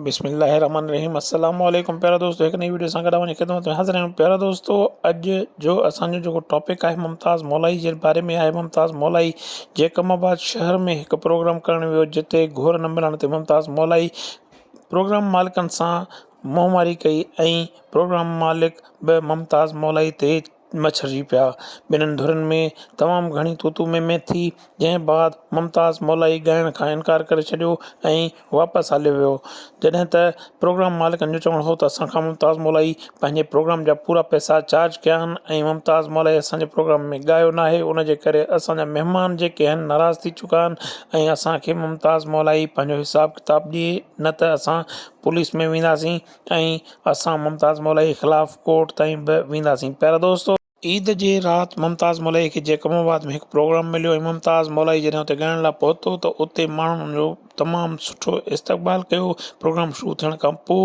بسم الله الرحمن الرحيم السلام عليڪم پيارا دوستو هڪ نئين وڊيو سان گڏ اوهان جي خدمت ۾ حاضر آهيون پيارا دوستو اڄ جو اسان جو جيڪو ٽاپڪ آهي ممتاز مولائي جي باري ۾ آهي ممتاز مولائي جي ڪم آباد شهر ۾ هڪ پروگرام ڪرڻ ويو جتي گهور نه ملڻ تي ممتاز مولائي پروگرام مالڪن سان منهن واري ڪئي ۽ پروگرام مالڪ به ممتاز مولائي تي مڇرجي پيا. ٻنهن ڌرين ۾ تمام گهڻي تو تو مين مين ٿي، جنهن بعد ممتاز مولائي ڳائڻ کان انڪار ڪري ڇڏيو ۽ واپس هليو ويو. جڏهن ته پروگرام مالڪن جو چوڻ هو ته اسان کان ممتاز مولائي پنهنجي پروگرام جا پورا پئسا چارج ڪيا آهن ۽ ممتاز مولائي اسان جي پروگرام ۾ ڳايو ناهي ان جي ڪري اسان جا مهمان جيڪي آهن ناراض ٿي چڪا آهن ۽ اسان کي ممتاز مولائي پنهنجو حساب ڪتاب ڏئي نه ته اسان پوليس ۾ وينداسين. ۽ اسان ممتاز مولائيء خلاف ڪورٽ تائين به وينداسين. پيارا دوستو! عيد جي رات ممتاز مولائيء کي جيڪب آباد ۾ هڪ پروگرام مليو ۽ ممتاز مولائي جڏهن اتي ڳائڻ لاء پهتو ته اتي ماڻهن ان جو تمام سٺو استقبال ڪيو. پروگرام شروع ٿيڻ کان پوء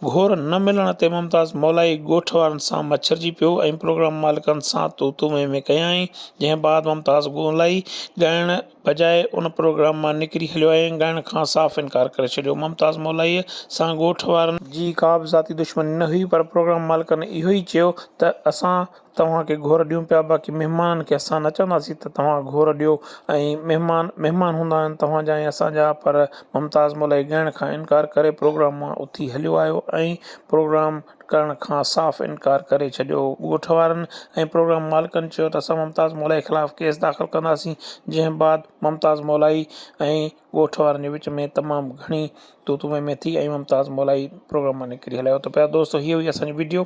گهور نه ملڻ تي ممتاز مولائي ڳوٺ وارن سان مڇرجي پيو ۽ پروگرام مالڪن سان تون تون مين مين ڪيائين، جنهن بعد ممتاز مولائي ڳائڻ بجاء ان پروگرام مان نڪري هليو ۽ ڳائڻ کان صاف انڪار ڪري ڇڏيو. ممتاز مولائيء سان ڳوٺ وارن. جي ڪابه ذاتي دشمني نه هئي پر پروگرام مالڪن اهو ئي چيو ته اسان توهان کي گهور ڏيون پيا باقي مهمانن کي اسان نه چونداسين ته توهان گهور ڏيو ۽ مهمان مهمان هوندا آهن توهان جا ۽ اسان جا پر ممتاز مولائي ڳائڻ کان انڪار ڪري پروگرام مان اٿي هليو آيو ۽ پروگرام ڪرڻ کان صاف انڪار ڪري ڇڏيو. ڳوٺ وارن ۽ پروگرام مالڪن چيو ته اسان ممتاز مولائي خلاف ڪيس داخل ڪنداسين جنهن بعد ممتاز مولائي ۽ ڳوٺ وارن جي وچ ۾ تمام گهڻي تون تون مين مين ٿي ۽ ممتاز مولائي پروگرام مان نڪري هليو ته پيارو دوستو هي هئي اسان جي وڊيو